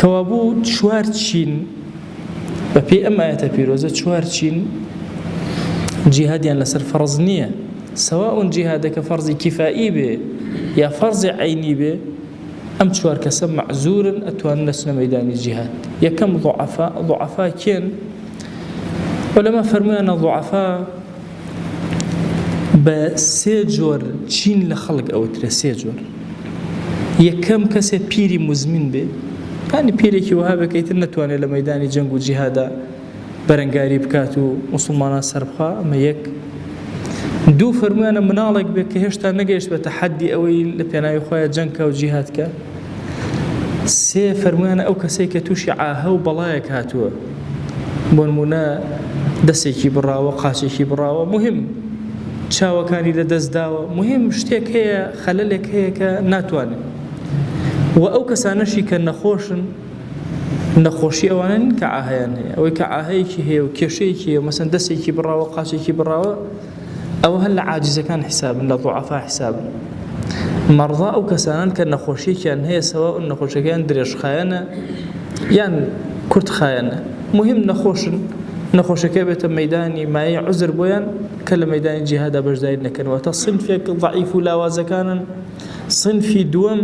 کەوابوو چوار چین بە پێی ئەم ئایەتە پیرۆزە چوار چین جیهادیان لەسەر فەرز نییە سەوا ئەون جیهادەکە فەرزی کیفایی بێ یا فەرزی عینی بێ ئەم چوار کەسە مەعزورن ئەتوان لەچنە مەدانی جیهاد یەکەم ضعفا ضعفا کێن ولەمە فەرمویانە ضعفا بە سێ جۆر چین لە خەڵک ئەوترێ سێ جۆر یەکەم کەسێ پیری مزمین بێ ینی پیرێکی وهابێ کە ئیتر نەتوانێت لە مەدانی جەنگ و جیهادا بەرەنگاری بکات و مسلمانان سەربخوا ئەمە یەک دوو فەرمویانە مناڵێک بێت کە هێشتا نەگەیشت بە تەحەدی ئەوەی لە پێناوی خۆیان جەنگکە و جیهاتکە سێ فەرمویانە ئەو کەسێک کە تووشی عاهە و بەڵایەک هاتووە بۆنمونە دەسێکی بڕاوە قاچێکی بڕاوە مهم چاوەکانی لە دەستداوە مهم شتێک هەیە خەلەلێک هەیە کە ناتوانێت و ئەو کەسانەشی کە نەخۆشن نەخۆشی ئەوانن کە ئاهیان هەیە ئەوەی کە ئاهەیەکی هەیە و کێشەیەکی هەیە مەسەن دەسێکی بڕاوە قاچێکی بڕاوە ئەوە هەر لە عاجزەکان حیسابن لە ضعفا حیسابن مەڕضا ئەو کەسانن کە نەخۆشیێکیان هەیە سەوا ئەو نەخۆشەکەیان درێژخایەنە یان کورتخایەنە مهم نەخۆشن نەخۆشەکە بێتە مەدانی مایە عزر بۆیان کە لە مەدانی جیهادا بەشداری نەکەنەوە تا سنفێک ضعیف و لاوازەکانن سنفی دووەم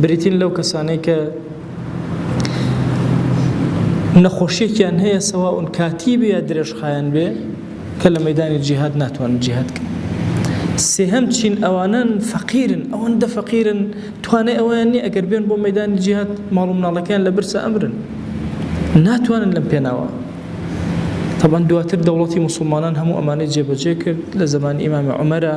بریتین لەو کەسانەی کە نەخۆشیێکیان هەیە سەواون کاتی بێ درێژخایەن بێ کە لە مەیدانی جیهاد ناتوانن جیهاد کەن سێهەم چین ئەوانن فەقیرن ئەوەندە فەقیرن توانای ئەویان نیە ئەگەر بێن بۆ مەدانی جیهات ماڵ و مناڵەکەیان لە برسە ئەمرن ناتوانن لەم پێناوە طبعا دواتر دەوڵەتی مسلمانان هەموو ئەمانەی جێبەجێ کرد لە زمانی ئیمامی عمەرە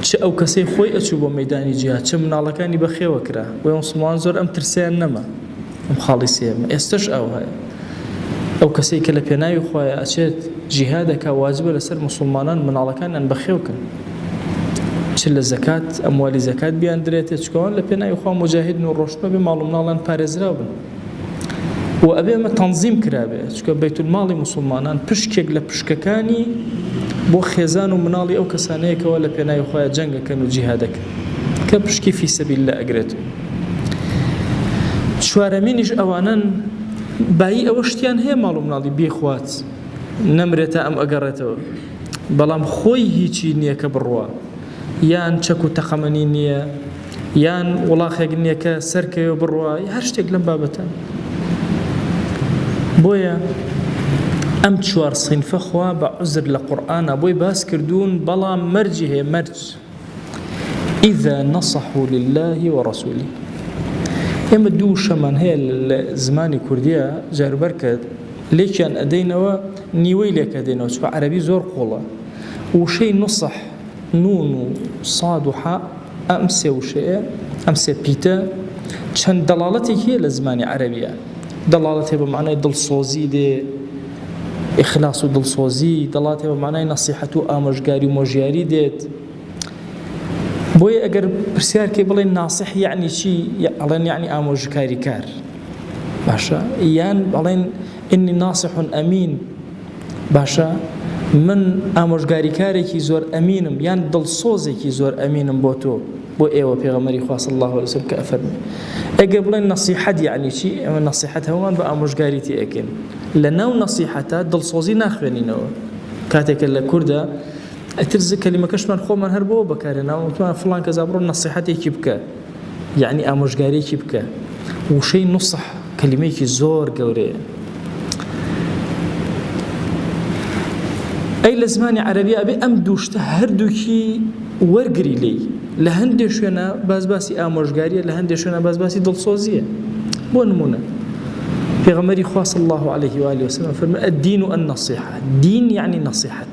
چ ئەو کەسەی خۆی ئەچوو بۆ مەیدانی جیهاد چ مناڵەکانی بەخێوە کرا بۆیە موسڵمانان زۆر ئەم ترسەیان نەما ئەم خاڵی سێیەمە ئێستەش ئەوهەیە ئەو کەسەی کە لە پێناوی خوایە ئەچێت جیهاد ئەکا واجبە لەسەر موسڵمانان مناڵەکانیان بەخێو کەن چ لە زەکات ئەموالی زەکات بیاندرێتێ چکەوان لە پێناوی خوا موجاهیدن و ڕۆشتنە بێ ماڵ و مناڵیان پارێزراو بن و ئەبێ ئەمە تەنزیم کرابێ چکە بەیتولماڵی مسلمانان پشکێک لە پشکەکانی بۆ خێزان و مناڵی ئەو کەسانەیەکەوە لە پێناوی خۆیان جەنگەکەن و جیهادەکە کە پشکی فیسەبیل لە ئەگرێت چوارەمینیش ئەوانن بایی ئەوە شتیان هەیە ماڵ و مناڵی بێخوات نەمرێتە ئەم ئەگەڕێتەوە بەڵام خۆی هیچی نییە کە بڕوە یان چەک و تەقەمەنی نییە، یان وڵاخێک نییە کە سەرکەوێ و بڕوا، یا هەر شتێک لەم بابەتە. بۆیە ئەم چوار صینفە خوا بە عوزر لە قورئانا بۆی باس کردوون، بەڵام مەرجی هەیە، مەرج اذا نصحوا لله ورسوله. ئێمە دوو وشەمان هەیە لە زمانی کوردیا جاربەرکەت لێکیان ئەدەینەوە نیوەی لێکەدەینەوە چکە عەرەبی زۆر قوڵە وشەی نوسح نوون و صاد و حاء، ئەم سێ وشەیە، ئەم سێ پیتە، چەند دەڵاڵەتێکی هەیە لە زمانی عەرەبییا. دەڵاڵەتێ بە مەعنای دڵسۆزی دێ، ئیخلاس و دڵسۆزی، دەڵاتێ بە مەعنای نەسیحەت و ئامۆژگاری و مۆژیاری دێت. بۆیە ئەگەر پرسیار کەی بڵێ ناسح یەعنی چی؟ ئەڵێن یەعنی ئامۆژکاریکار. باشە یان ئەڵێن ئینی ناسح ئەمین. باشە من ئامۆژگاریکارێکی زۆر ئەمینم یان دڵسۆزێکی زۆر ئەمینم بۆ تۆ بۆ ئێوە پێغەمەری خوا صلی الله علیه وسلم کە ئەفەرمی ئەگەر بڵێن نەسیحەت یعنی چی ئەمە نەسیحەت هەمووان بە ئامۆژگاری تێ ئەکەین لە ناو نەسیحەتە دڵسۆزی ناخوێنینەوە کاتێکە لە کوردە ئەتر زکەلیمەکەشمان خۆمان هەر بۆ بەکارێناوە وتمان فلان کەزا بڕۆ نەسیحەتێکی بکە یەعنی ئامۆژگاریەکی بکە. وشەی نوسح کەلیمەیەکی زۆر گەورەیە. ئەی لە زمانی عەربی ئەبێ ئەم دووشتە هەردووکی وەرگری لی لە هەندێک شوێنە باز باسی ئامۆژگاریە لە هەندێک شوێنە باز باسی دڵسۆزیە بۆ نمونە پێغەمەری خواست الله عليه وآله وسلم فرمە الدين النصيحة دين يعني نصيحة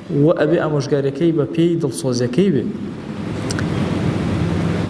وە ئەبێ ئامۆژگاریەکەی بە پێی دڵسۆزیەکەی بێ.